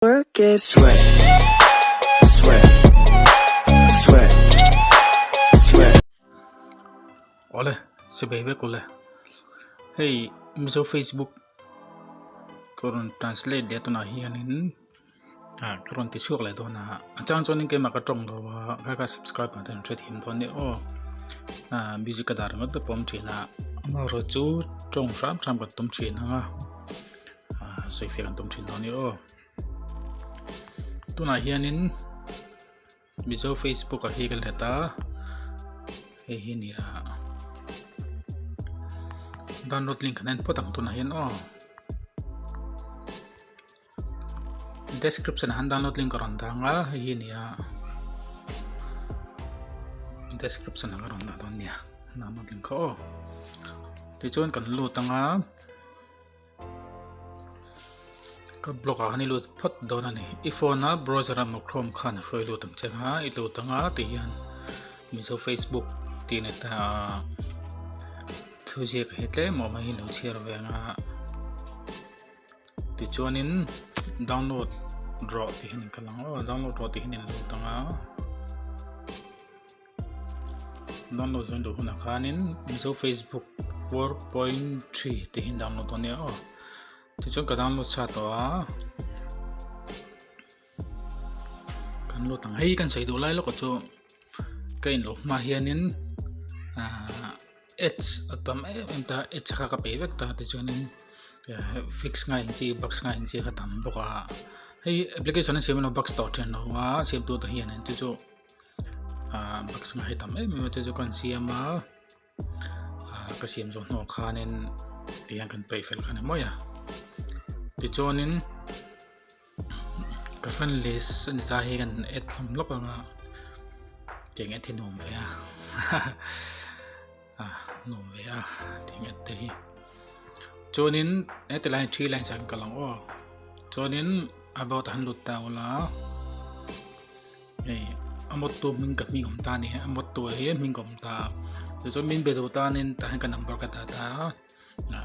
Work it. Sweat, sweat, sweat, sweat. Ole, sibei vek ule. Hei, Mizo Facebook kurun translate dia tuna hianin à kurun ti suak le dona ha. Achang chuan in ke maka tong lo wa, ka ka subscribe ma ten thret him don ni o. À busy ka dar ngot be pom thina. Ma ro chu tong ram ram ka tum thina nga. sawifiah an tum thin tawh a ni aw tunah hianin mizo facebook ah hi kan hlet a hei hi ni a download link kan en phawt ang tunah hian aw description han download link ka rawn dang a hei hi ni a description ka rawn dah dawn nia download link kha aw tichuan kan lut anga Ka block ah khan i lut phawt dawn a ni. I phone a browser emaw chrome khan a hruai lut ang che kha i lut ang a tih hian Mizo Facebook tih net a thu ziak hi tlem awm a hi lo chhiar ve ang a. Ti chuanin download rawh tih hian in kal ang aw download rawh tih hian in lut ang a. download zawng duh hunah khanin mizo facebook 4.3 te hi download tawh nia aw ti chuan ka download chha tawh a kan lo tang hei kan sei duh lai lawk chu ka in lo hma hianin ads atam em em ta ads kha ka pe vek ta ti chuanin fix ngai chi box ngai chi kha tam bawk a hei application a siam lo box tawh thin lo a siam tu te hian en ti chu ah baksa ngaih tam em em te chu kan siam a ah ka siam zawh hnawh khanin tih hian kan peih fel khan a mawi a tichuanin ka friend list a ni ta hi kan add thlam lawk ang a tiang add hi nuam ve a ah nuam ve a tiang add te hi chuanin e ti line three line sang ka lang aw chuanin about han lut ta ula hei a motto hming ka hming awm ta a ni a motto hi a hming ka awm ta a chu chu min be zo tan in tah hian ka number ka dah ta a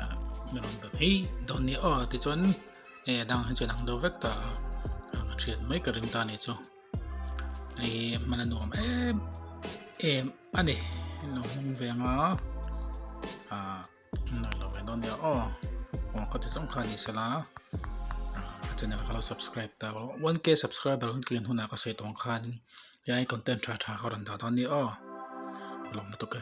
min rawn bel hi dawn nia aw ti chuan hei a dang hi chu a dang deuh vek ta a ka hriat mai ka ring ta a ni chu hei hman a nuam em em a ni nuam hming veng a a Nai lo mai dawn nia aw Kawng kha ti zawng kha ni sela channel kha lo subscribe ta 1k subscriber hun clean huna ka sei tawng khan yai content tha tha ka rawn dah dawn ni aw lawm lutuk e